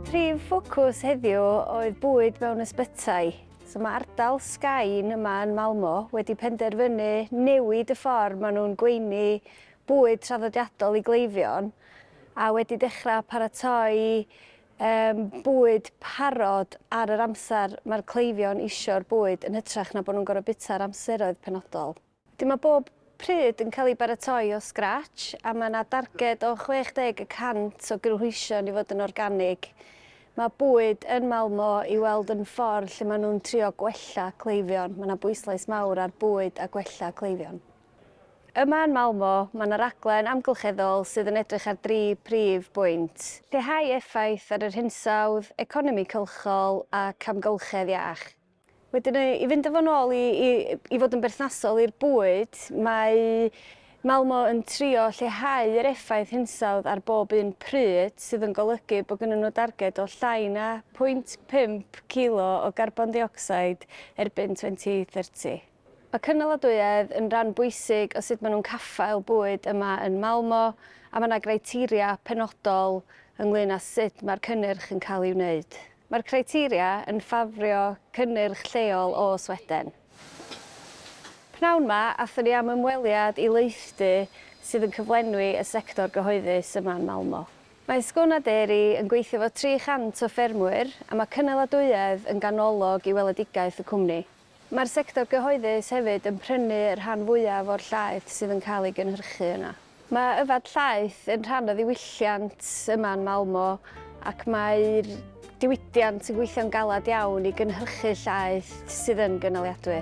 Prif ffocws heddiw oedd bwyd mewn ysbytai. So mae ardal Sgain yma yn Malmo wedi penderfynu newid y ffordd maen nhw'n gweini bwyd traddodiadol i gleifion a wedi dechrau paratoi um, bwyd parod ar yr amser mae'r cleifion isio'r bwyd yn hytrach na bod nhw'n gorfod bita'r amseroedd penodol. Dim o bob pryd yn cael ei baratoi o sgrach a mae yna darged o 60 y cant o gynhwysion i fod yn organig. Mae bwyd yn Malmö i weld yn ffordd lle maen nhw'n trio gwella cleifion, mae yna bwyslais mawr ar bwyd a gwella cleifion. Yma yn Malmö, mae yna raglen amgylcheddol sydd yn edrych ar dri prif bwynt. Lleihau effaith ar yr hinsawdd, economi cylchol ac amgylchedd iach. Wedyn i fynd â fo'n ôl i, i, i fod yn berthnasol i'r bwyd, mae Malmo yn trio lleihau yr effaith hinsawdd ar bob un pryd, sydd yn golygu bod gynnyn nhw darged o llai na 0.5 kilo o garbon deuocsid erbyn 2030. Mae cynaliadwyedd yn rhan bwysig o sut maen nhw'n caffael bwyd yma yn Malmö a mae yna greiteria penodol ynglŷn â sut mae'r cynnyrch yn cael ei wneud. Mae'r criteria yn ffafrio cynnyrch lleol o Sweden. P'nawn 'ma, aethon ni am ymweliad i leithdy sydd yn cyflenwi y sector gyhoeddus yma yn Malmö. Mae Skåne Dairy yn gweithio efo 300 o ffermwyr a mae cynaliadwyedd yn ganolog i weledigaeth y cwmni. Mae'r sector gyhoeddus hefyd yn prynu y rhan fwyaf o'r llaeth sydd yn cael ei gynhyrchu yna. Mae yfed llaeth yn rhan o ddiwylliant yma yn Malmö ac mae'r diwydiant yn gweithio'n galed iawn i gynhyrchu llaeth sydd yn gynaliadwy.